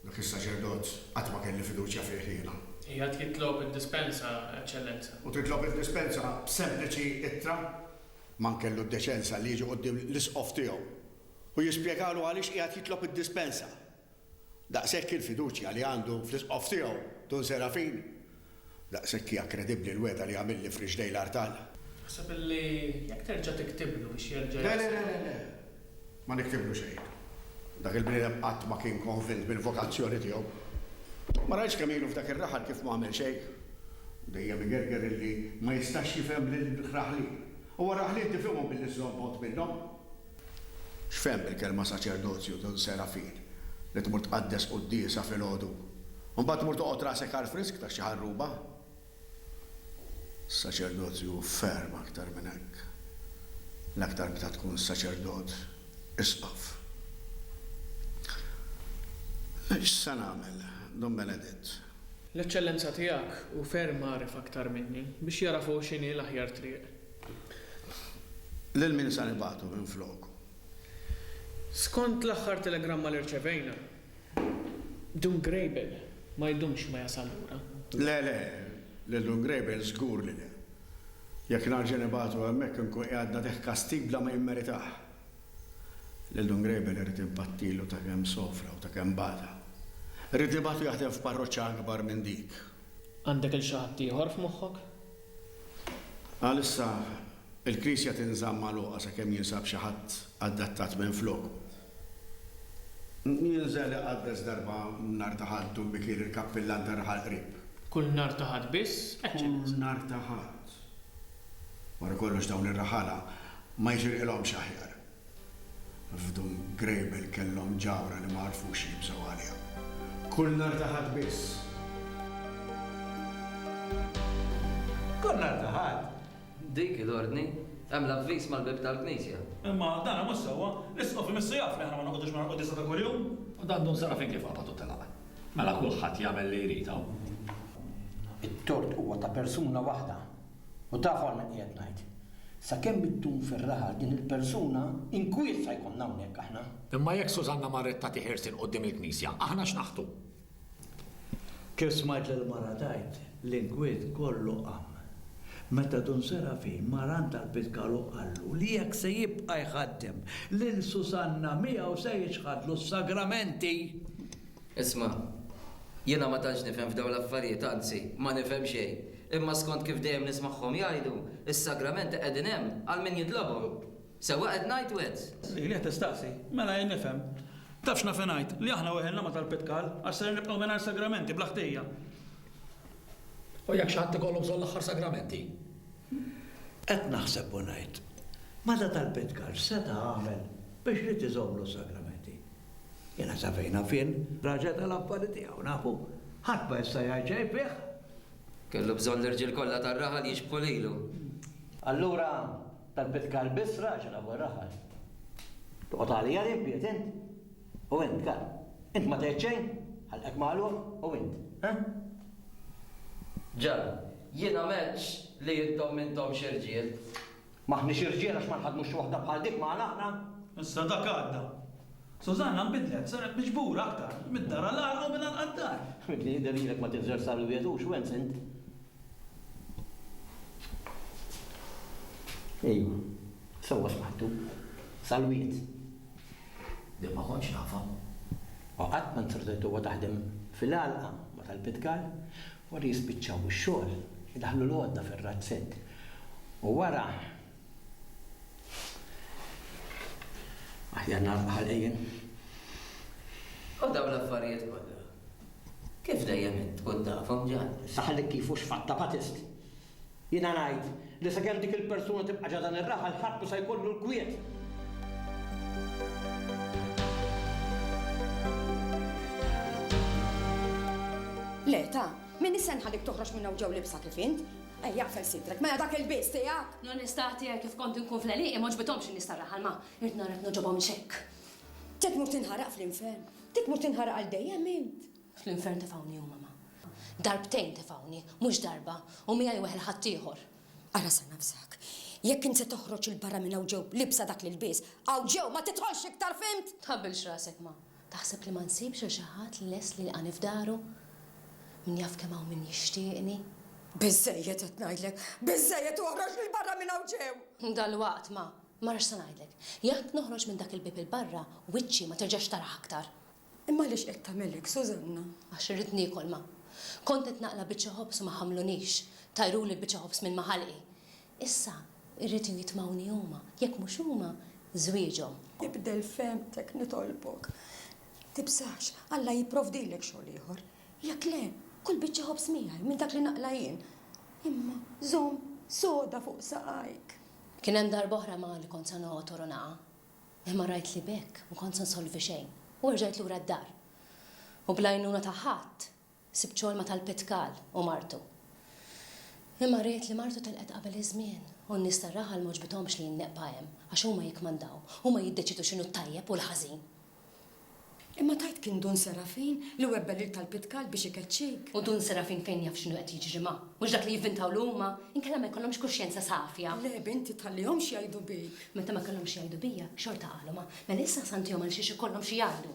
Dak is-saċerdot qatt ma kelli fiduċja fih jiena. Qiegħed jitlob id-dispensa, Eċċellenza. U titlob id-dispensa b'sempliċi ittra? Man kellu d-deċenza li jiġi quddiem l-isqof tiegħu u jispjegalu għaliex qiegħed jitlob id-dispensa. Daqshekk il-fiduċja li għandu fl-isqof tiegħu, Dun Serafin, Daqshekk hija kredibbli l-wegħda li għamilli f'riġlej l-artal. Taħseb li jekk terġa' tiktiblu biex jerġa' jasal? Le, le, le, le, ma niktiblu xejn. Dak il-bniedem qatt ma kien konvint bil-vokazzjoni tiegħu. Ma rajtx kemm ilu f'dak ir-raħal kif m'għamel xejn? Dejjem igerger illi ma jistax jifhem lill-raħlin. Huwa r-raħlin tifhimhom billi żżomm bogħod minnhom. X'fehem bil-kelma saċerdozju, Dun Serafin? Li tmur tqaddes quddiesa filgħodu, u mbagħad tmur toqgħod rasek għall-frisk ta' xi ħarruba? Is-saċerdozju hu ferm aktar minn hekk. L-aktar meta tkun saċerdot, isqof. X'se nagħmel, Dun Beneditt? L-Eċċellenza tiegħek hu ferm għaref aktar minni, biex jagħraf hu x'inhi l-aħjar triq. Lil min sa nibagħtu minfloku? Skont l-aħħar telegramma li rċevejna, Dun Grejbel ma jdumx ma jasal lura. Le, le, lil Dun Grejbel żgur li le. Jekk narġa' nibagħtu hemmhekk inkun qiegħed nagħtih kastig bla ma jimmeritah. Lil Dun Grejbel irrid inpattilu ta' kemm sofra u ta' kemm bata. Rrid nibagħtu jaħdem f'parroċċa akbar minn dik. Għandek 'il xi ħadd ieħor f'moħħok? Għalissa, il-knisja tinżamm magħluqa sakemm jinsab xi ħadd adattat minflok. Jinżel iqaddes darba nhar ta' Ħadd u bikir il-kappillan tar-raħal qrib. Kull nhar ta' Ħadd biss? eċċ. Kull nhar ta' Ħadd. Wara kollox dawn ir-raħala ma jixirqilhomx aħjar. F'Dun Grejbel kellhom ġawhra li ma għarfux jibżgħu għaliha. Kull nhar ta' Ħadd biss. Kull nhar ta' Ħadd. Dik hi l-ordni. Hemm l-avviż mal-bieb tal-knisja. Imma dan mhux sewwa. L-Isqof imissu jaf li aħna ma noqogħdux mingħajr quddiesa ta' kuljum. U dan dum sara finché f'qabad u telaq. Mela kulħadd jagħmel li jrid hawn. It-tort huwa ta' persuna waħda. U taf għalhekk qiegħed ngħid. Sakemm iddum fir-raħal din il-persuna, inkwiet sa jkollna hawnhekk aħna. Imma jekk Susanna marret tagħti ħirsien quddiem il-knisja, aħna x'naħtu? Kif smajt lill-mara tgħid, l-inkwiet kollu qam. Meta Dun Serafin mar għand tal-Pitkal u qallu li jekk se jibqa' jħaddem lil Susanna miegħu se jiċħadlu s-sagramenti! Isma', jiena ma tantx nifhem f'dawn l-affarijiet, anzi, ma nifhem xejn. Imma skont kif dejjem nismagħhom jgħidu, is-sagramenti qegħdin hemm għal min jitlobhom. Sewwa qed ngħid, Wed? Lili qed tistaqsi, Mela jien nifhem. Taf x'naf ingħid, li aħna weħilna ma' talb it-tqal, għax ser nibqgħu mingħajr sagramenti, bla ħtija. U jekk xi ħadd ikollu bżonn l-aħħar sagramenti? Qed naħseb u ngħid, Mela talb it-tqal x'seta' għamel biex ried iżommlu s-sagramenti? Jiena sa fejn naf jien, raġel tal-affari tiegħu, nafu, ħadd ma jista' jgħid xejn fih. Kellu bżonn l-irġiel kollha tar-raħal jixbħu lilu. Allura dak bit-kalb isra' għax rabu r-raħal. Toqgħod għalija li nbiet int? U int, kalb, int ma tgħid xejn? Ħalqek magħluq, u int, ha? Ġara, jiena m'għedtx li intom m'intomx irġiel. M'aħniex irġiel għax ma nħaddmux xi waħda bħal dik magħna aħna. Issa dak għadda. Susanna nbidlet, saret miġbura aktar, mid-dar għall-għalqa u mill-għalqa d-dar. Mibni jidher lilek ma tinżelx sar il-wiegħed hux wens int? Ejwa, sewwa smajtu. Sal-wiegħed. Din ma kontx nafha. U qatt ma ntrditthuha taħdem fil-għalqa, ma talbitx għal. Wara jispiċċaw ix-xogħol, idaħħlu l-għodda fir-razzett. U wara, aħjar nagħlaq ħalqien. U dawn l-affarijiet kollha, kif dejjem int tkun tafhom, Ġan? Saħanik kif hux fatta Batist. Jiena ngħid li sakemm dik il-persuna tibqa' ġa dan ir-raħal ħadd mhu se jkollu l-kwiet. Le, ta! M'iniex se nħallik toħroġ minn hawn ġew libsa kif int. Ejja aqfel sidrek, mela dak il-lbies tiegħek! L-onestà tiegħi kif kont inkun fl-għelieqi m'għoġbithomx in-nies tar-raħal ma rrid narek nogħġobhomx hekk. Trid tmur tinħaraq fl-infern. Trid tmur tinħaraq għal dejjem int. Fl-infern tefgħuni huma ma. Darbtejn tefgħuni, mhux darba, u miegħi weħel ħaddieħor. Ara sa nafsek. Jekk int se toħroġ 'il barra minn hawn ġew libsa dak l-ilbies, hawn ġew ma tidħolx iktar fhimt? Tħabbilx rasek ma. Taħseb li ma nsibx lil xi ħadd li lest li jilqagħni f'daru? Min jaf kemm hawn min jixtieqni! Biżżejjed qed ngħidlek! Biżżejjed u oħroġ lil barra minn hawn ġew! Dalwaqt ma, marax se ngħidlek. Jekk noħroġ minn dak il-bieb 'il barra, wiċċi ma terġax tarah aktar! Imma għaliex qed tagħmel hekk, Sużanna? Għax irrid niekol, ma. Kont qed naqla' biċċa ħobż u ma ħamlunix. Tajruli l-biċċa ħobż minn ma ħalqi. Issa, irridu jitmgħuni huma, jekk mhux huma, żwieġhom. Ibdel fehmtek, nitolbok. Tibżax, Alla jipprovdilek xogħol ieħor. Jekk le, kul biċċa ħobż miegħi minn dak li naqla' jien. Imma żomm soda fuq saqajk. Kien hemm darba oħra ma li kont se noqgħod u naqa', imma rajt li b'hekk m'kont se nsolvi xejn u erġajt lura d-dar. U bl-għajnuna ta' ħadd, Sibt xogħol ma' tal-Pitkal u martu. Imma ried li martu telqet qabel iż-żmien u n-nies tar-raħal m'għoġbithomx li jinneqpa hemm għax huma jikkmandaw, huma jiddeċiedu x'inhu t-tajjeb u l-ħażin. Imma tgħid kien Dun Serafin li webbel lil tal-Pitkal biex ikeċċik? U Dun Serafin fejn jaf x'inhu qed jiġri ma', mhux dak li jivvintawlu huma? Inkella ma jkollhomx kuxjenza safja. Le, binti, tħallihomx jgħidu bik. Meta ma kellhomx x'jgħidu bija, xorta qalu ma'. Mela issa ħsantihom għalxiex ikollhom xi jgħidu.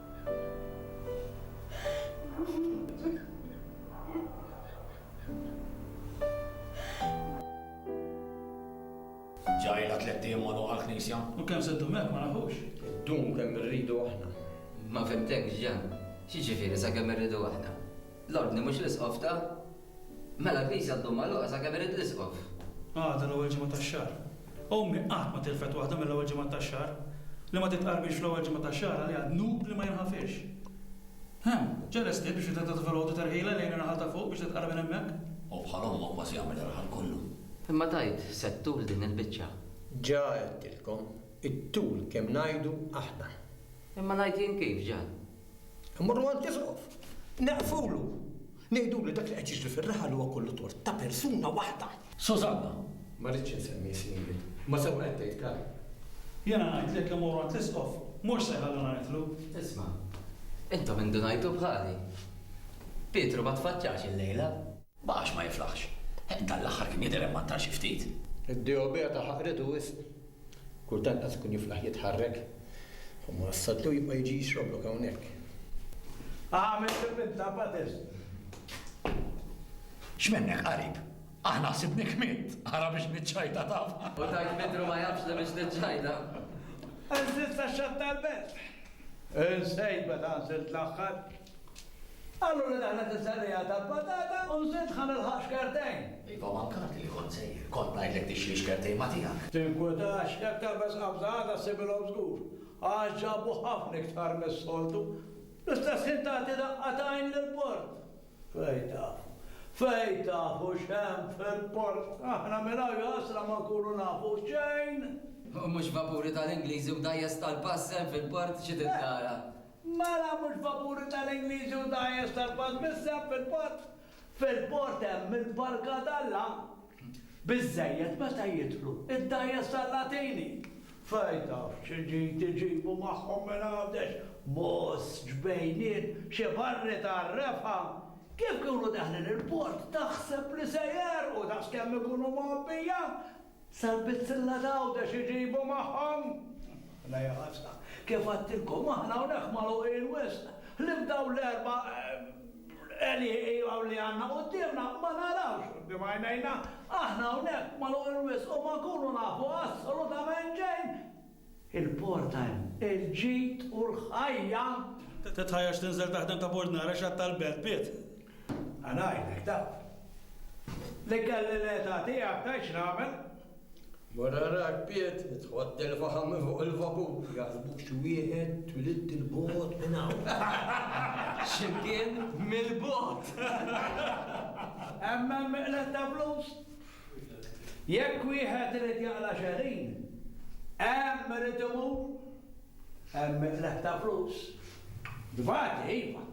Ġa ilha tlett ijiem magħluqa l-knisja. U kemm se ddum hekk ma nafux. Iddum kemm irridu aħna. Ma fhimtekx Ġan. X'jiġifieri sakemm irridu aħna? L-ordni mhux l-Isqof ta? Mela l-knisja għad dommha magħluqa sakemm irid l-isqof. Għada l-ewwel ġimgħa tax-xahar. Ommi qatt ma tilfet waħda mill-ewwel ġimgħat tax-xahar. Li ma titqarbix fl-ewwel ġimgħa tax-xahar għaliha dnub li ma jinħafirx. Hemm, ġa lesti biex wieħed jagħti ta' filgħodu terħila lejn ir-raħal ta' fuq biex titqarreb minn hemmhekk? Hu bħal omma kważi jagħmel ir-raħal kollu. Imma tgħid se ttul din il-biċċa. Ġa għedtilkom, ittul kemm ngħidu aħna. Imma ngħid jien kif, ġa. Immorru għand l-isqof, neqfulu, ngħidulu li dak li qed jiġri fir-raħal huwa kollu tort ta' persuna waħda. Sużanna, Ma rridx insemmi ismijiet, imma sewwa qed tgħid, Karl. Jiena ngħid li jekk immorru għand l-isqof, mhux se jħalluna nidħlu. Isma', intom indunajtu bħali. Pietru ma tfaċċax illejla. Ma għax ma jiflaħx. Heq, dan l-aħħar kien jidher emmantar xi ftit. Id-dehobija ta' ħaqritu wisq. Kultant qas ikun jiflaħ jitħarrek. U ma wassatlu jibqa' jiġi jixroblok hawnhekk. Agħmel fil-minta, Patterson. X'minnek, qarib? Aħna ħsibnik mitt. Ara biex niċċajta taf. U tajt Pietru ma jafx li biex niċċajta. Għanżilt sa x-xatt tal-belt. Insejt meta għanżilt l-aħħar. Qallu li daħlet is-serriegħa tal-patata u nsiet ħa nilħaq xkertejn. Iva mankati li kont sejjer. Kont ngħidlek tixtri xkertejn ma' tiegħek. Tinkwitax, jekk terbes qabża għada ssibilhom żgur, għax ġabu ħafna iktar mis-soltu. Fl-istess ħin tagħti daqqa ta' għajn lill-port. Fejn tafu. Fejn tafu x'hemm fil-port. Aħna minn hawn jahasra ma nkunu nafu xejn. U mhux vapuri tal-Ingliżi u dgħajjes tal-pass hemm fil-port xi trid tara. Mela mhux vapuri tal-Ingliżi u dgħajjes tal-Pażmiss hemm fil-port? Fil-port hemm mill-barka d'Alla. Biżżejjed meta jidħlu d-dgħajjes tal-Latini. Fejn taf xi ġid iġibu magħhom minn Għawdex, Mos, Ġbejniet, xi barri tar-refgħa? Kif jkunu daħlin il-port taħseb li se jegħrqu daqskemm ikunu mgħobbija? Sal-bizzilla t'Għawdex iġibu magħhom! La ja ħasra! Kif għedtilkom, aħna hawnhekk magħluqin wisq, ħlief dawn l-erba' għelieqi li għandna quddiemna, ma narawx quddiem għajnejna. Aħna hawnhekk magħluqin wisq u ma nkunu nafu assolutament xejn! Il-porta hemm. Il-ġid u l-ħajja. Titħajjarx tinżel taħdem ta' bord nara x'għadd tal-belt, Piet. Ħa ngħidlek, taf. Li kelli l-età tiegħek tgħid x'nagħmel. Ma narax, Piet, tħodd il-faħam minn fuq il-vapur. Jaħsbu xi wieħed twilidt 'il bogħod minn hawn. X'imkien mill-bogħod. Hemm hemm miqled ta' flus. Jekk wieħed irid jaqla' xegħlin, hemm irid imur, hemm iqleb ta' flus. Tbati, iva,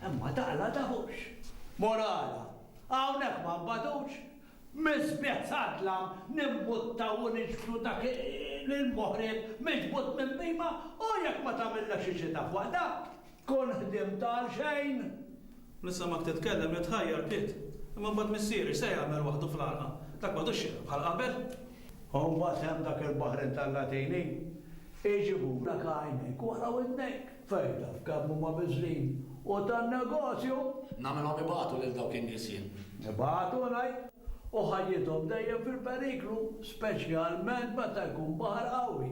imma taqla' dahux. Morala, hawnhekk ma nbatux, miżbigħ sad-dlam nimmuttaw u nixbtu dak il-moħrib miġbud minn bhima u jekk ma tagħmillekx ix-xita f'waqtha, tkun ħdimt għalxejn. Nisimgħek titkellem li tħajjar bdiet. Imma mbagħad missieri x'se jagħmel waħdu fl-għalqa? Dak m'għadux xieraq bħal qabel. U mbagħad hemm dak il-baħar intallatej li, iġibulek għajnejk u wara widnejk, fejn taf kemm huma biżżin u ta' negozju! Nagħmilhom ibatu lil dawk in-nies jien. Ibatu ngħid! U ħajjithom dejjem fil-periklu, speċjalment meta jkun baħar qawwi.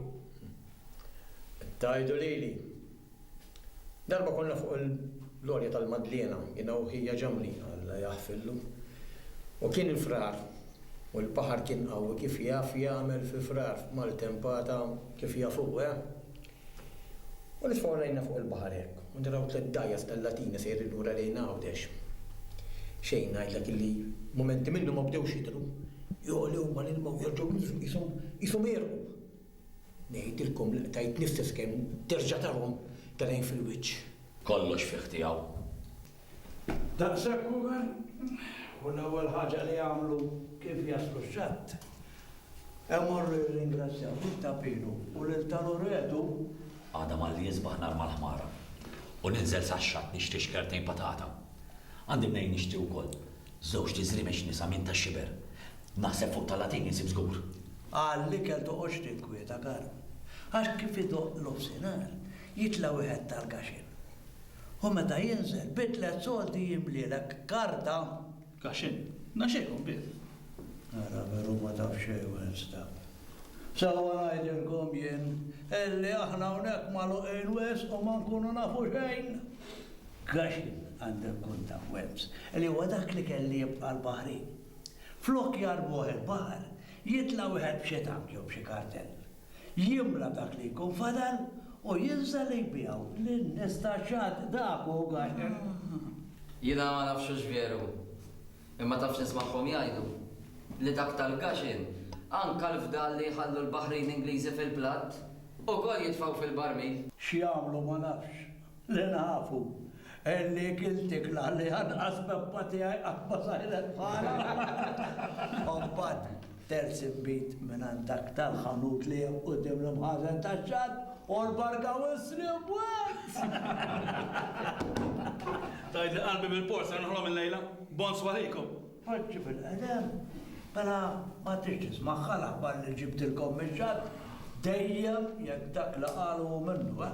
Tgħidu lili. Darba konna fuq l-għolja tal-Madliena, jiena u ħija Ġamli, Alla jaħfirlu, u kien il-Frar, u l-baħar kien qawwi kif jaf jagħmel fi Frar f'maltempata kif jaf hu, eh? U nitfgħu għajnejna fuq il-baħar hekk u naraw tliet dgħajjes tal-Latina sejrin lura lejn Għawdex. Xejn ngħidlek illi mumenti minnhom ma bdewx jidhru, jogħli huma l-ilma u jerġgħu jniżlu qishom qishom għerqu. Ngħidilkom l-qtajt l-istess kemm terġa' tarhom tal-għajn fil-wiċċ. Kollox fih tiegħu. Daqshekk uvel, u l-ewwel ħaġa li jagħmlu kif jaslu x-xatt, imorru jirringrazzjaw lil ta' Pinu u lil ta' Loretu. Għada malli jisbaħ narma l-ħmara u ninżel sax-xatt nixtri xkertejn patata. Għandi mnejn nixtri wkoll, Żewġt iżriemex nisa minn ta' xiber. Naħseb fuq ta' Latin insib żgur. Għall-ikel toqgħodx tinkwieta Karm. Għax kif idoqq nofsinhar, jitla' wieħed tal-kaxin. U meta jinżel, bi tliet soldi jimlielek karta. Kaxin? Naxxejhom bih. Ara veru ma taf xejn Wednesda. Sewwa ngħidilkom jien, illi aħna hawnhekk magħluqin wisq u ma nkunu nafu xejn. Għaxin għandu jkun taf Wells, li huwa dak li kelli jibqa' l-baħri. Flok jarbuh il-baħar, jitla' wieħed b'xi tank jew b'xi kartell. Jimla dak li jkun fadal u jinżel jbiegħu lin-nies tax-xatt. Dak hu Għaxin. Jiena ma nafx hux veru. Imma taf x'nismagħhom jgħidu? Li dak tal-gaxin, anke l-fdal li jħallu l-baħrin Ingliżi fil-platt, ukoll jitfgħu fil-barmil! X'jagħmlu ma nafx. Li nafu, għenni ikiltek l-għalliħa, nqas peppa tiegħi qatt ma sajret bħalha! Kompad. terz inbid mingħand dak tal-ħanut li hemm quddiem l-imħażen tax-xatt, u l-barka wissli b'wiċċ! Tgħidli qalbi bil-pors ser noħlom illejla? Bonsoir lejkom! Poġġi fil-qedem, mela ma tridx tismagħha l-aħbar li ġibtilkom mix-xatt, dejjem jekk dak li qalu hu minnu, eh!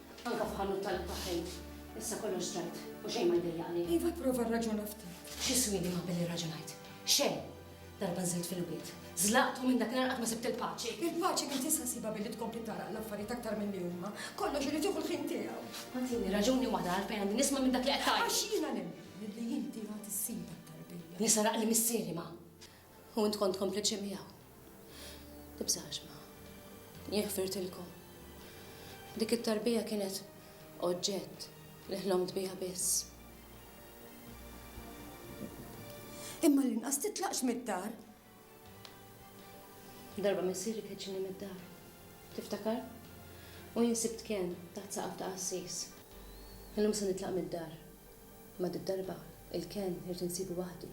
Anke f'ħanut tal-ikel taħ-ħejt. Issa kollox ġrajd u xejn ma jdejjaqni. Iva, pprova rraġuna ftit. X'jiswieni ma billi rraġunajt? Xejn! Darba nżilt fil-wied, żlaqt u minn dakinhar qatt ma sibt il-paċi. Il-paċi m'int tista' ssibha billi tkompli tagħraq l-affarijiet aktar milli huma. Kollox irid jieħu l-ħin tiegħu. Ma tini raġuni waħda għalfejn għandi nisma' minn dak li qed tgħid. Għax jiena nemmen li inti għad issibha t-tarbija. Li saraqli missieri ma. U int kont kompliċi miegħu. Tibżax ma. Jien ħfirtilkom. Dik it-tarbija kienet oġġett li ħlomt biha biss. Imma l-inqas titlaqx mid-dar. Darba missieri keċċini mid-dar. Tiftakar? U jien sibt kien taħt saqaf ta' qassis. Illum se nitlaq mid-dar. Ma darba il-ken irid insibu waħdi.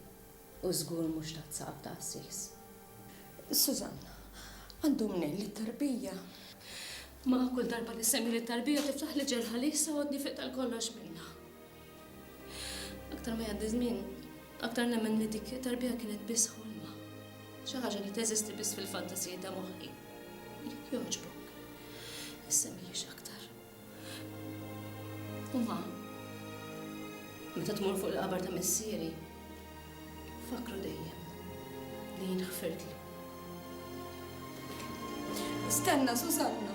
U żgur mhux tazzab ta' qassis. Sużanna, Għandu mnejn li t-tarbija. Ma kull darba li ssemmi lit-tarbija tiftaħli ġerħa li issa għodni fiqta l-kollox minnha. Aktar ma jgħaddi żmien, aktar nemmen li dik it-tarbija kienet biss ħolma. Xi ħaġa li teżisti biss fil-fantasiji ta' moħħi. Jekk jogħġbok, issemmiehiex aktar. Imma meta tmur fuq il-qabar ta' missieri, fakkru dejjem li jien ħfirtlu. Stenna, Susanna!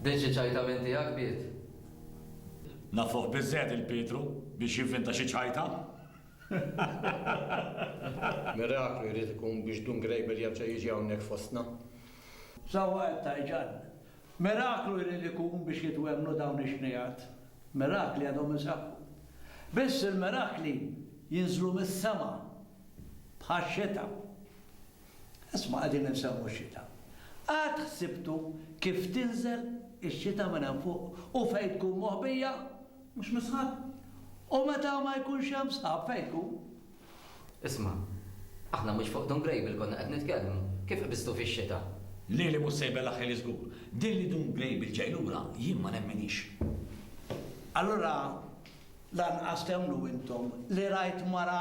Bdiet xi ċajta minn tiegħek, Piet? Nafuh biżżejjed lil Pietru biex jivvinta xi ċajta. Miraklu jrid ikun biex Dun Grejbel jerġa' jiġi hawnhekk fostna. Sewwa qed tgħid, Ġann. Miraklu jrid ikun biex jitwemmnu dawn ix-xnigħat. Mirakli għadhom isaħħu. Biss il-mirakli jinżlu mis-sema bħax-xita. Isma' qegħdin insewwu x-xita. Qatt ħsibtu kif tinżel ix-xita minn hemm fuq u fejn tkun moħbija? Mhux mis-sħab? U meta ma jkunx hemm sħab fejn tkun? Isma', aħna mhux fuq Dun Grejbil konna qed nitkellmu. Kif qbiżtu fix-xita? Lili mhux se jbellgħ ħili żgur. Din li Dun Grejbil ġej lura jien ma nemminhiex. Allura lanqas temmnu intom li rajt mara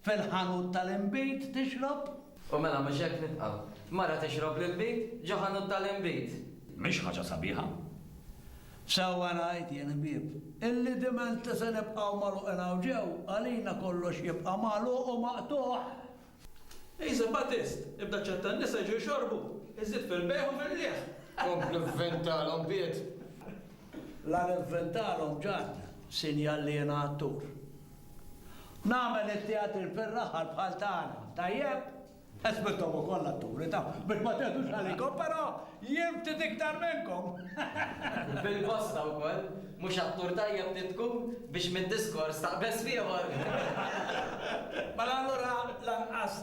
Fil-ħanut tal-inbid tixrob? U mela mhux hekk nitqgħu. Mara tixrob l-inbid ġo ħanut tal-inbid. Mhix ħaġa sabiħa? Sewwa rajt jien Hbieb, illi dimenti se nibqgħu magħluqin hawn ġew, għalina kollox jibqa' magħluq u maqtugħ. Isa Batist, ibda ċċetta n-nisa jiġu jxorbu, iżżid fil-bejgħ u fil-qligħ. Kompli vvintalhom biet. La nivvintalhom ġann, sinjal li jiena attur. Nagħmel it-teatri fir-raħal bħal tagħna, tajjeb? Għax intom ukoll atturi, taf, biex ma teħdux għalikom, però jien ftit iktar minnkom! Bil-bosta wkoll, mhux attur tajjeb trid tkun biex mid-diskors taqbeż f'ieħor! Mela allura lanqas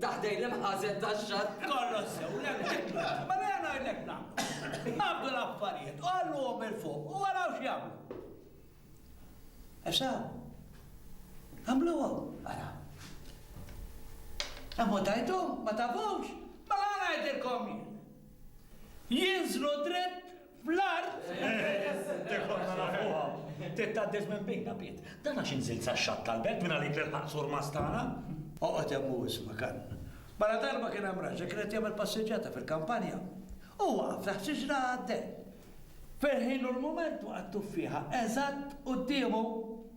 Ta' ħdejn l-imħażen tax-xatt. Kollha sew, l-MGP. Mela jien ngħidlek nagħmlu. Nagħmlu l-affarijiet u għalluhom 'il fuq u araw x'jagħmlu. Issa, għamluhom, araw. Imma tajthom, ma tafux? Mela ngħidilkom jien. Jinżlu dritt Fl-art! Dik konna nafuha. Trid tgħaddiż minn bejna, Piet. Dan għax inżilt sax-xatt tal-belt minn għalik l-ilħaqt surmast tagħna? Oqgħod hemm u isma', Kann. Mara darba kien hemm raġel kien qed jagħmel passiġġjata fil-kampanja. Hu waqaf taħt xiġra għaddej. Fil-ħin u l-mument waqgħet tuffieħa eżatt quddiemu.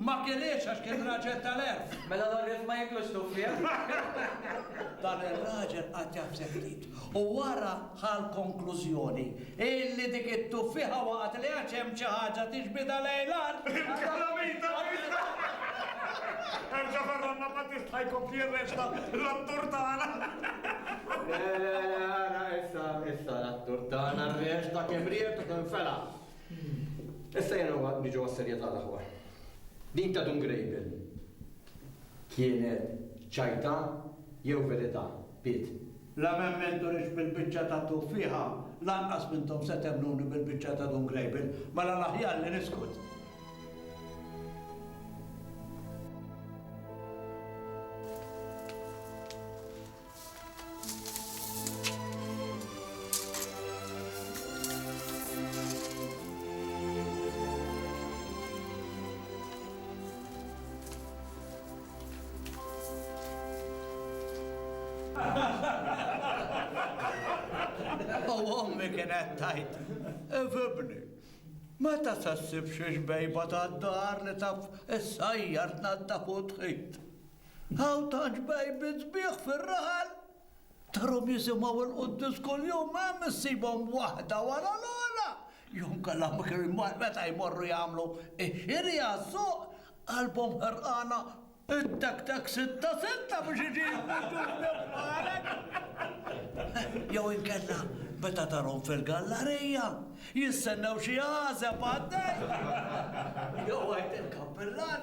Ma keliex għax kien raġel tal-għerf. Mela l-għorrief ma jiklux tuffiegħ? Dan ir-raġel qagħad jaħseb ftit u wara ħa l-konklużjoni illi dik it-tuffieħa waqgħet li għax hemm xi ħaġa tixbidha lejn l-art. Il-kalamita! Erġa' ferranna ma tista' jkun fih resta l-attur tagħna. Le, le, le, ara issa, issa l-attur tagħna r-resta kemm ried u kemm fela. Issa jenna niġu għas-serjetà l-aħwa. Din ta' Dun Grejbel kienet ċajta jew verità, Piet? La m'hemm min turix bil-biċċa ta' tuffieħa, lanqas m'intom se temmnuni bil-biċċa ta' Dun Grejbel, mela l-aħjar li niskut. U ommi kienet tajt, ifibni, meta se ssib xi xbejba tad-dar li taf issajjar tnaddaf u tħid. Hawn tant bejbiet sbieħ fir-raħal, tarhom jisimgħu l-quddies kuljum, hemm issibhom waħda wara l-oħra, jew inkella meta jmorru jagħmlu x-xiri għas-suq, qalbhom ħerqana ittektek sitta sitta biex iġibu ġusti bħalek. Jew inkella meta tarhom fil-gallarija, jistennew xi għażeb għaddej. Jew għid il-kappillan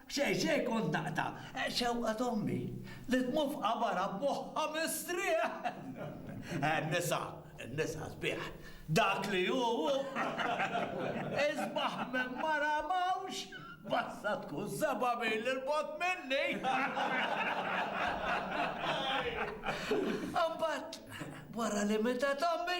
Xejn, xejn, kont naqta'. Xewqa t'ommi li tmur f'qabarha b'moħħha mistrieħ! In-nisa, in-nisa sbieħ. Dak li hu, hu. Isbaħ minn mara m'hawnx. Basta tkun seba' mil 'il bogħod minni! Imbagħad, wara li mietet ommi,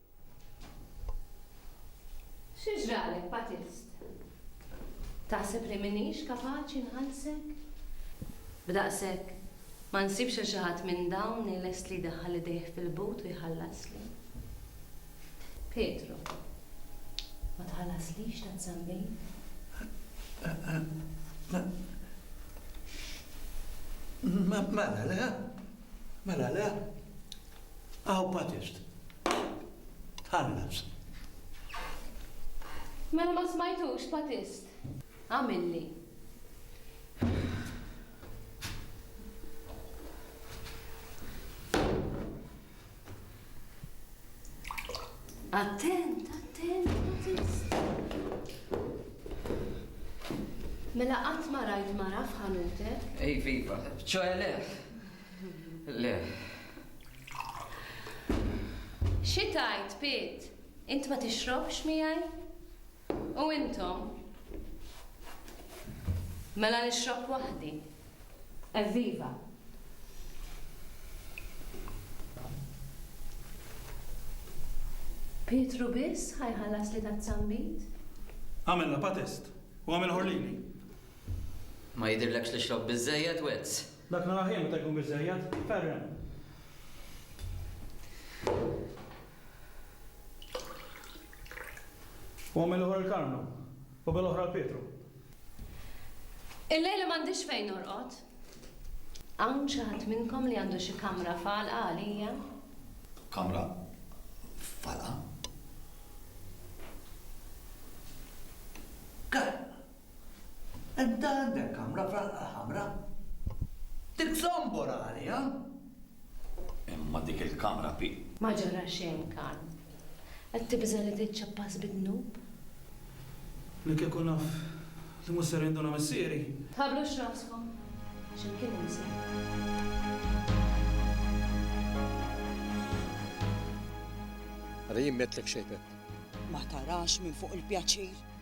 Xi ġralek, Batist? Taħseb li m'iniex kapaċi nħallsek? B'daqshekk, ma nsibx lil xi ħadd minn dawn li lest li jdaħħal idejh fil-but u jħallasli? Pietru, Ma tħallaslix tant żammejt? Mela le, mela le. Aw patist. Tħallas. Mela ma smajtux patist. Għamilli. Attent, attent, patist. Mela qatt ma rajt mara f'ħanutek? Ej, viva, ċoħe leħ. Xi tgħid, Piet? Int ma tixrobx miegħi? U intom? Mela nixrob waħdi. Evviva! Pietru biss ħa jħallasli taz-zambit? Agħmel lapa test u agħmel ħorlini. Ma jidhirlekx li xrobt biżżejjed, Wezz? Dak naraħ jien meta jkun biżżejjed. Ferren. U ommi l-oħra l-Karmnu. U bel-oħra l-Pietru. Illejla m'għandix fejn norqod. Hawn xi ħadd minnkom li għandu xi kamra falqa għalija? Kamra falqa? Ga! Int għandek kamra fl-Alqa l-Ħamra? Dik zombor għaliha! Imma dik il-kamra pi. Ma ġara xejn, Karm. Qed tibża' li tiċċappas bid-dnub? Li kieku naf li mhux ser jinduna missieri! Tħabblux raskom, għax imkien hemm sejf. Ara jien m'għedtlek xejn, Pepp. Ma tarax minn fuq il-pjaċir?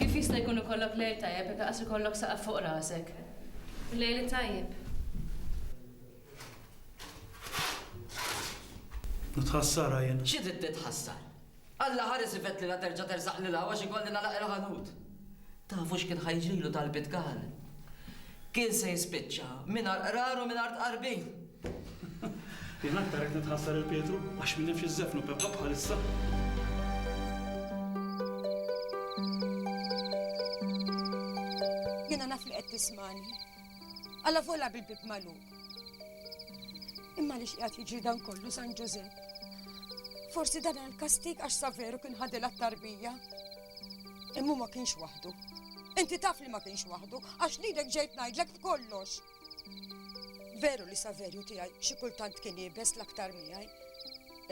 Kif jista' jkun ikollok lejl tajjeb jekk laqas ikollok saqaf fuq rasek? Lejl it-tajjeb. Nitħassarha jien. Xi trid titħassar? Alla ħares ifett li la terġa' tersaq lil hawn għax ikolli nagħlaq il-ħanut. Tafu x'kien ħa jiġrilu talbiet Gal? Kien se jispiċċa mingħajr qrar u mingħajr tqarbin. Jien aktar qed nitħassar il Pietru għax min jafx iż-żefnu Peppa bħalissa. Jiena naf li qed tismani. Alla vola bil-bib magħluq. Imma li x'qiegħed jiġri dan kollu San Ġużepp. Forsi dan għal kastik għax saveru kien ħadilha t-tarbija. Imma ma kienx waħdu. Inti taf li ma kienx waħdu, għax lilek ġejt ngħidlek f'kollox. Veru li Saverju tiegħi xi kultant kien iebes l-aktar miegħi,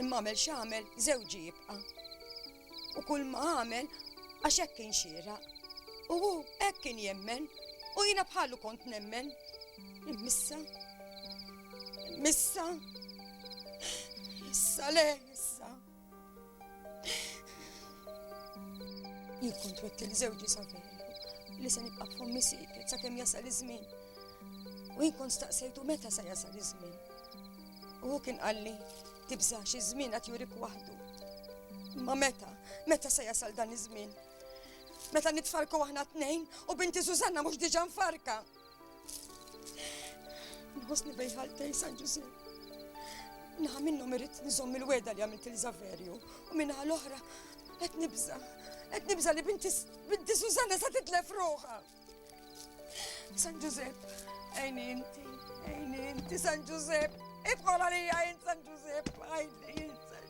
imma għamel x'għamel żewġi jibqa'. U kull ma għamel għax hekk kien xira. U hu hekk kien jemmen u jiena bħalu kont nemmen. Missa, missa, missa le, missa. Jien kont wetti li żewġi Savellu li se nibqa' f'ommi siket sakemm jasal iż-żmien. U jien kont staqsejtu meta se jasal iż-żmien. U hu kien qalli tibżax iż-żmien qed jurik waħdu. Ma meta, meta se jasal dan iż-żmien? Meta nitfarku aħna tnejn u binti Susanna mhux diġà nfarka. Nħossni bejħal tej San Ġużi. Naħa minnhom irrid nżomm il-weda li għamilt il-Zaverju u minnaħa l-oħra qed nibża. Qed nibża li binti binti Susanna sa titlef ruħha. San Ġużep, għajni inti, għajni inti San Ġużep, idħol għalija jint San Ġużep, għajni jint San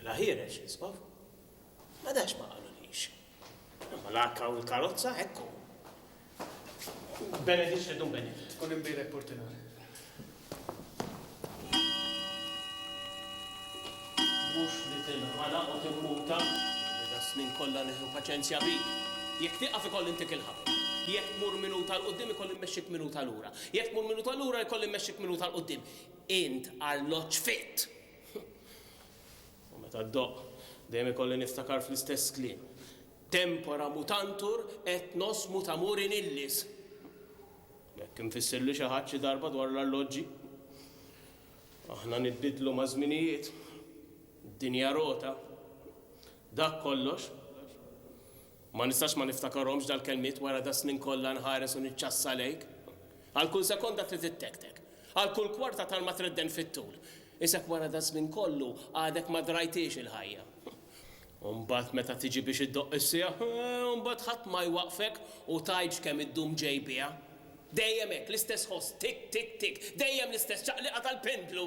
Mela ħiereġ l-Isqof. Ma danx ma qalulix. Imma l-arka u l-karozza hekk hu. Benedicite dum bene. Tkun imbierek Portinari. Mhux li tinħanaq u timmuta. Li das-snin kollha nieħu paċenzja bik. Jekk tieqaf ikolli ntik il-ħabel. Jekk tmur minuta 'l quddiem ikolli mmexxik minuta lura. Jekk tmur minuta lura jkolli mmexxik minuta 'l quddiem. Int arloġġ fit! U meta ddoqq, dejjem ikolli niftakar fl-istess kliem, Tempora mutantur et nos mutamur in illis. Hekk imfissirli xi ħadd xi darba dwar l-arloġġi. Aħna nitbiddlu maż-żminijiet. Id-dinja rota. Dak kollox. Ma nistax ma niftakarhomx dal-kelmiet wara das-snin kollha nħares u niċċassa lejk. Għal kull sekonda trid ittektek. Għal kull kwarta tal-ma tredden fit-tul. Isek wara das-żmien kollu għadek ma drajthiex il-ħajja. U mbagħad meta tiġi biex iddoqq is-siegħa, u mbagħad ħadd ma jwaqqfek u tgħidx kemm iddum ġej biha. Dejjem hekk, l-istess ħoss, tik, tik, tik, dejjem l-istess ċaqliqa tal-pendlu.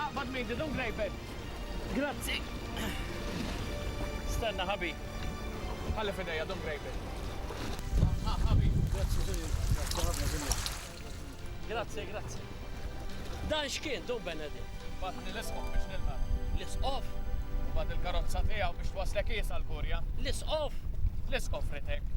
Aqbad miegħi dun grejpek. Grazzi. Stenna ħabib. Ħalli f'idejja dun grejpek. Ha ħabib. Grazzi Ġunju. Grazzi, grazzi. Dan x'kien dun Benedikt? Batni l-isqof biex nilqa. L-isqof? Bad il-karozza tiegħu biex twaslek iesa l-kurja. L-isqof? L-isqof ritek.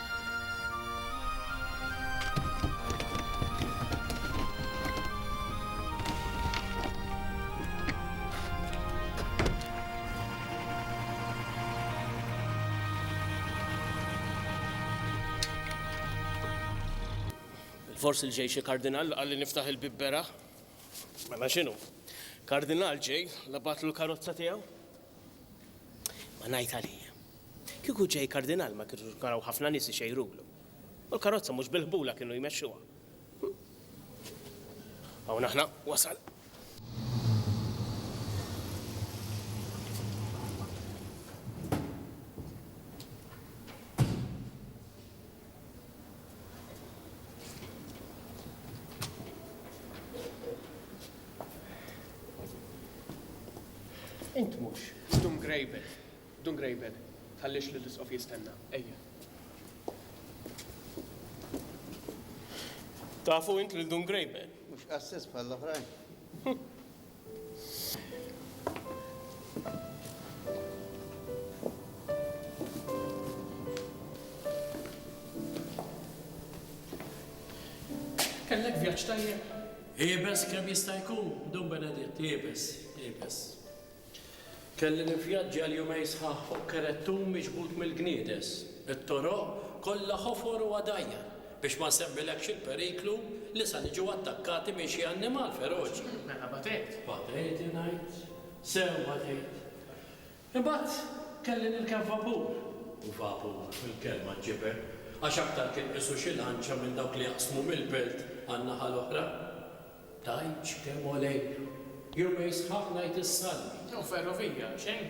Forsi l-ġej xi kardinal għalli niftaħ il-bibbera. Mela xinu? Kardinal ġej, labatlu l-karozza tiegħu? Ma ngħid għalija. Kieku ġej kardinal ma kienux kien hawn ħafna nies ixejrulu. U l-karozza mhux bil-ħbula kienu jmexxuha. Hawn aħna wasal. Int mhux. Dum grejbel. Dum grejbel. Tħallix li l-isqof jistenna. Ejja. Tafu int lil Dum Grejbel? Mhux qassis bħall-oħrajn. Kellek vjaġġ tajjeb? Iebes kemm jista' jkun, Dun Beneditt, iebes, iebes. Kelli nivvjaġġja l-jumej sħaħ fuq kerettun miġbud mill-gniedes. It-toroq kollha ħofor u għadajjar, biex ma nsemmilekx il-periklu li sa niġu attakkati minn xi annimal feroċi. Mela batejt? Batejt, ingħid. Sew batejt. Imbagħad kelli nirkeb vapur. U vapur, il-kelma ġġibed, għax aktar kien qisu xi lanċa minn dawk li jaqsmu mill-belt għan-naħa l-oħra. Tgħidx kemm hu lejl. Jumejn sħaħ ngħid is-salmi. Jew ferrovija, xejn.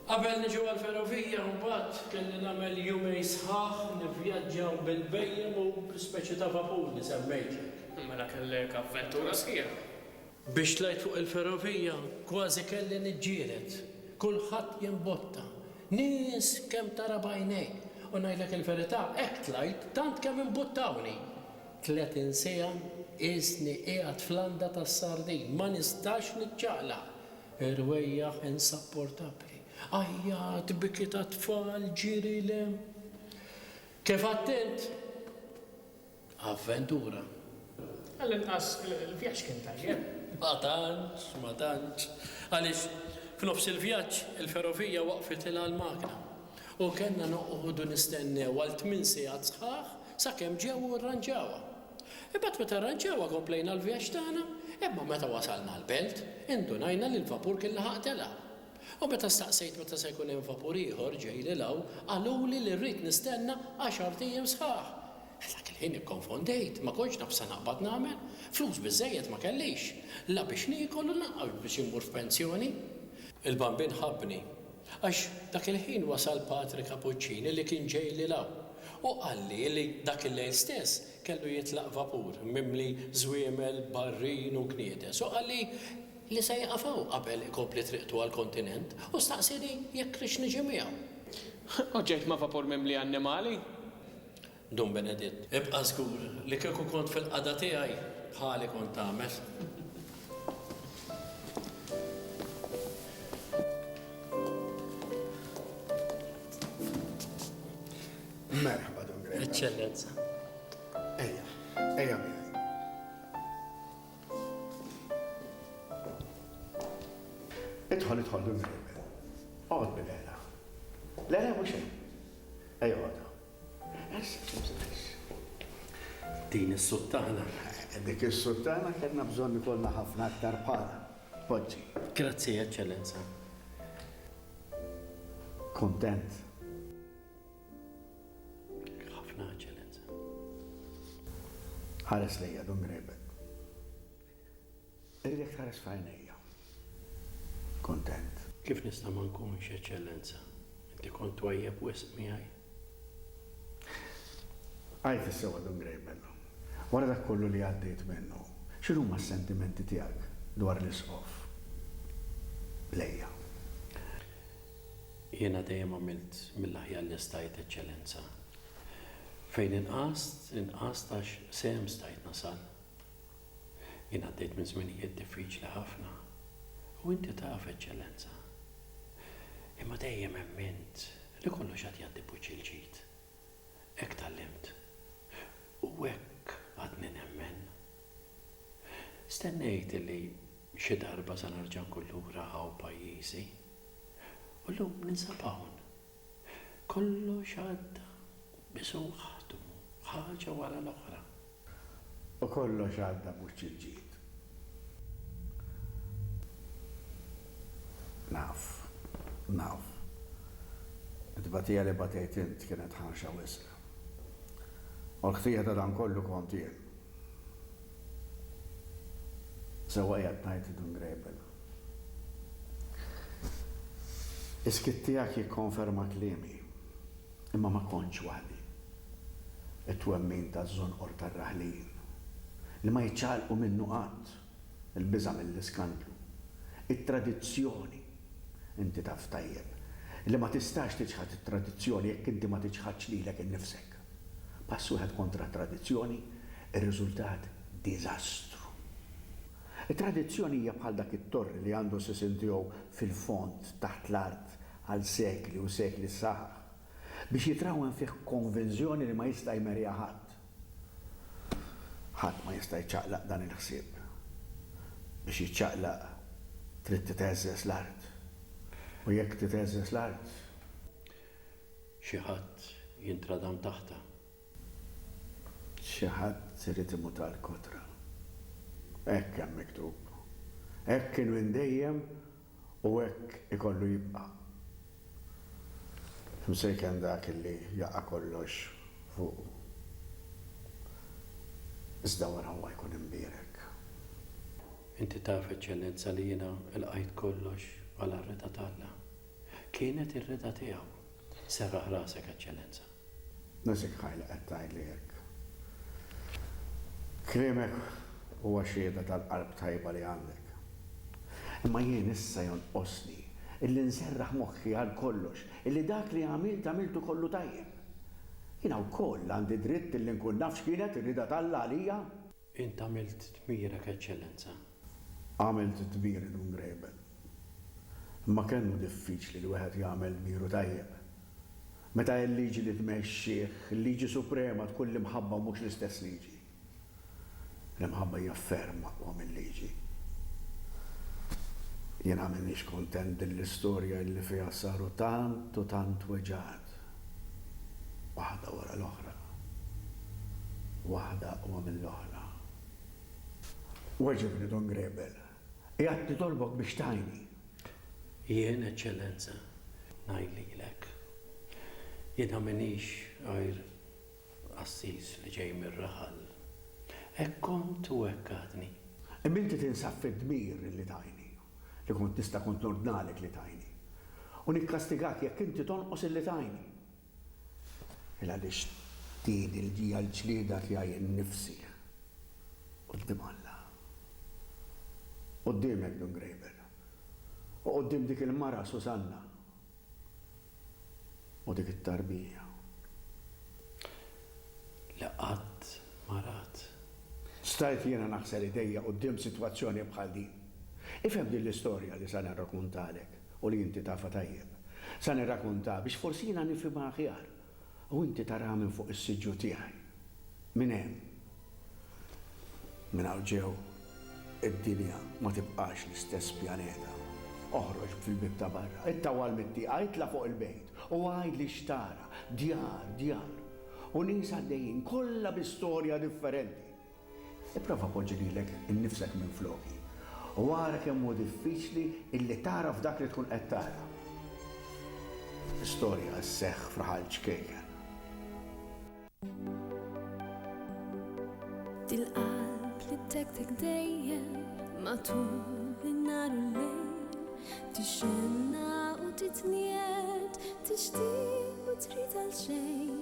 Qabel niġu għall-ferrovija mbagħad kelli nagħmel jumejn sħaħ nivvjaġġaw bil-bhejjem u bl-ispeċi ta' vapur li semmejtlek. Mela kellek avventura sħiħa. Biex tlajt fuq il-ferrovija kważi kelli niġġieled. Kulħadd jimbotta. Nies kemm tara b'għajnejk. U ngħidlek il-verità hekk tlajt tant kemm imbuttawni. 30 siegħa qiesni qiegħed f'landa tas-sardin, ma nistax niċċaqlaq. Ir-rwejjaħ insapportabbli. Għajjat, biki tat-tfal, ġiri 'l hemm. Kif għedt int? Avventura. Għall-inqas il-vjaġġ kien tajjeb. Ma tantx, ma tantx. Għaliex, f'nofs il-vjaġġ, il-ferrovija waqfitilha l-magna u kellna noqogħdu nistennew għal tmien siegħat sħaħ Sakemm ġew u rranġawha. Imbagħad meta rranġawha komplejna l-vjaġġ tagħna, imma meta wasalna l-belt, indunajna li l-vapur kien laħaq telaq. U meta staqsejt meta se jkun hemm vapur ieħor ġej lil hawn, qaluli li rrid nistenna għaxart ijiem sħaħ. Dak il-ħin ikkonfondejt, ma kontx naf x'se naqbad nagħmel. Flus biżżejjed ma kellix, la biex niekol u lanqas biex immur f'pensjoni. Il-bambin ħabbni Għax dak il-ħin wasal Patri Cappuccini li kien ġej lil hawn u qalli li dak il-lejl stess kellu jitlaq vapur mimli żwiemel, barrin u kniedes u qalli li se jieqaf hawn qabel ikompli triqtu għall-kontinent u staqsieni jekk rridx niġi miegħu. U ġejt ma' vapur mimli annimali. Dun Beneditt, ibqa' żgur li kieku kont fil-qagħda tiegħi, bħali kont tagħmel. Merħba, Dun Greta. Eċċellenza. Ejja, ejja miegħi. Idħol, idħol, Dun Greta. Għod bil-għela. Le, le, mhux hemm. Ejja, għodha. Din is-suttana. Dik is-suttana kellna bżonn ikollna ħafna aktar bħalha. Poġġi. Grazzi, Eċċellenza. Kuntent? Ħafna, Eċċellenza. Ħares lejja, Dun Grebel. Irridek tħares f'għajnejja. Kuntent. Kif nista' ma nkunx, Eċċellenza? Inti kont twajjeb wisq miegħi. Għid is-sewwa, Dun Greyben. Wara dak kollu li għaddejt minnu, x'inhuma s-sentimenti tiegħek dwar l-Isqof lejja? Jiena dejjem għamilt mill-aħjar li stajt, Eċċellenza. Fejn inqast, inqast għax sehem stajt nasal. Jien għaddejt minn żminijiet diffiċli ħafna, u inti taf, Eċċellenza. Imma dejjem emmint li kollox għad jgħaddi b'wiċċ il-ġid. Hekk tgħallimt, u hekk għadni nemmen. Stennejt li xi darba se nerġa' nkun lura hawn pajjiżi, u llum ninsab hawn Kollox għadda b'suħħtu, ħaġa wara l-oħra. U kollox għadda b'wiċċ il-ġid. Naf, naf. It-tbatija li batejt int kienet ħarxa wisq. U l-ħtija ta' dan kollu kont jien. Sewwa qiegħed tgħid Dungrabel. Is-skiet tiegħek jikkonferma kliemi. Imma ma kontx waħdi. It-twemmin taż-żonqor tar-raħlin, li ma jiċċaqalqu minnu qatt, il-biża' mill-iskandlu, it-tradizzjoni, inti taf tajjeb li ma tistax tiċħad it-tradizzjoni jekk inti ma tiċħadx lilek innifsek. Pass wieħed kontra t-tradizzjoni, ir-riżultat diżastru. It-tradizzjoni hija bħal dak it-torri li għandu s-sisien tiegħu fil-fond taħt l-art għal sekli u sekli s-saħaħ biex jitrawwem fih konvinżjoni li ma jista' jmerrja ħadd. Ħadd ma jista' jċaqlaq dan il-ħsieb. Biex jiċċaqlaq trid titgħeżżeż l-art. U jekk titgħeżżeż l-art. Xi ħadd jintradam taħtha. Xi ħadd irid imut għall-kotra. Hekk hemm miktub. Hekk kien minn dejjem u hekk ikollu jibqa'. Imsejken dak li jaqa' kollox fuqu. Iżda wara huwa jkun imbierek. Inti taf, Eċċellenza, li jiena lqajt kollox bħala r-ridha t'Alla. Kienet ir-ridha tiegħu. Serraħ rasek, Eċċellenza. Nesikhaj li qed tgħidli hekk. Kliemek huwa xhieda tal-qalb tajba li għandek. Imma jien issa jonqosni illi nserraħ moħħi għal kollox illi dak li għamilt għamiltu kollu tajjeb. Jiena wkoll għandi dritt illi nkun naf x'kienet ir-rieda t'Alla għalija. Int għamilt dmirek, Eċċellenza. Għamilt dmiri dun grebel. Imma kemm hu diffiċli li wieħed jagħmel dmiru tajjeb, meta il-liġi li tmexxih, il-liġi suprema tkun l-imħabba u mhux l-istess liġi. L-imħabba hija ferm aqwa mil-liġi. Jiena m'iniex kuntent din l-istorja illi fiha saru tant u tant weġgħat, waħda wara l-oħra, waħda aqwa mill-oħra. Weġibni, Don Grebel. Qiegħed nitolbok biex tgħinni. Jien, Eċċellenza, ngħid lilek. Jiena m'iniex għajr qassis li ġej mir-raħal. Hekk kont u hekk għadni. Imma inti tinsab fid-dmir li tgħinni, li kont nista' kont nordnalek li tgħinni. U nikkastigak jekk inti tonqos illi tgħinni. Il għaliex din il-ġija l-ġlieda tiegħi innifsi quddiem Alla, quddiemek Dun Grejben, u quddiem dik il-mara Susanna u dik it-tarbija li qatt ma rat. Stajt jiena naħsel idejja quddiem sitwazzjoni bħal din? Ifhem din l-istorja li se nirrakuntalek. u li inti tafha tajjeb. Se nirrakuntha biex forsi jiena nifhimha aħjar u inti taraha minn fuq is-siġġu tiegħi. Minn hemm, minn hawn ġew, id-dinja ma tibqax l-istess pjaneta. Oħroġ fil-bieb ta' barra, ittawwal mit-tieqa, itla' fuq il-bejt u għidli x'tara, djar, djar, u nies għaddejjin, kollha bi storja differenti. Ipprova poġġi lilek innifsek minfloki u ara kemm hu diffiċli illi tagħraf dak li tkun qed tara. L-istorja sseħħ f'raħal ċkejken. Dil-qalb li ddekdek dejjem matul in-nhar u l-lejl, tixxenna u titnied, tixtieq u trid għalxejn.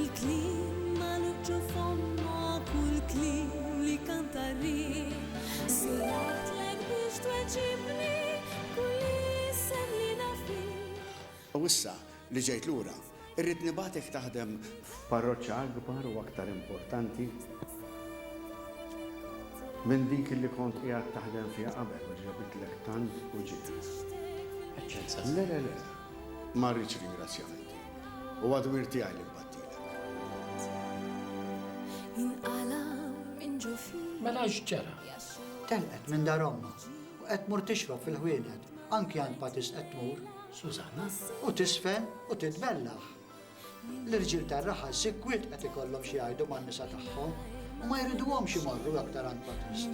Il-kliem magħluq ġo fommok u l-kliem li kanta r-riħ. Sirħtlek biex tweġibni kull isem li naf bih. U issa li ġejt lura, irrid nibagħtek taħdem. F'parroċċa akbar u aktar importanti minn dik li kont qiegħed taħdem fiha qabel u li ġabitlek tant uġigħ. Eċċenza. Le, le, le. Ma rridx ringrazzjamenti. Huwa dmir tiegħi li nbattilek. Jinqala' minn ġo fija. Mela x'ġara? Telqet minn dar ommha u qed tmur tixrob fil-ħwienet, anki għand Patis qed tmur. Susanna. U tiżfen u titbellaħ. L-irġiel tar-raħal sikwit qed ikollhom xi jgħidu man-nisa tagħhom. U ma jriduhomx imorru l-aktar għand Batist.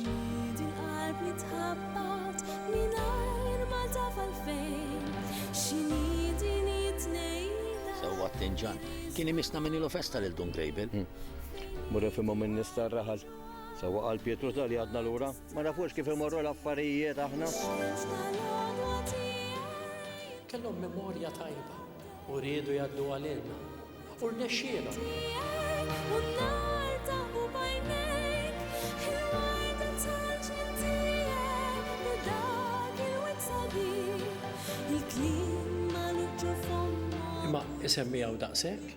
Sewwa t-tinġan. Kien imisna minn ilu festa lil Dun Grejbil. Hmm. Mur ifhimhom minn nista raħal. Sewwa qal Pietru tal għadna lura, ma nafux kif imorru l-affarijiet aħna. Kellhom memorja tajba. U riedu jgħaddu għalina. U rnexxielhom. Imma isemmi hawn daqshekk?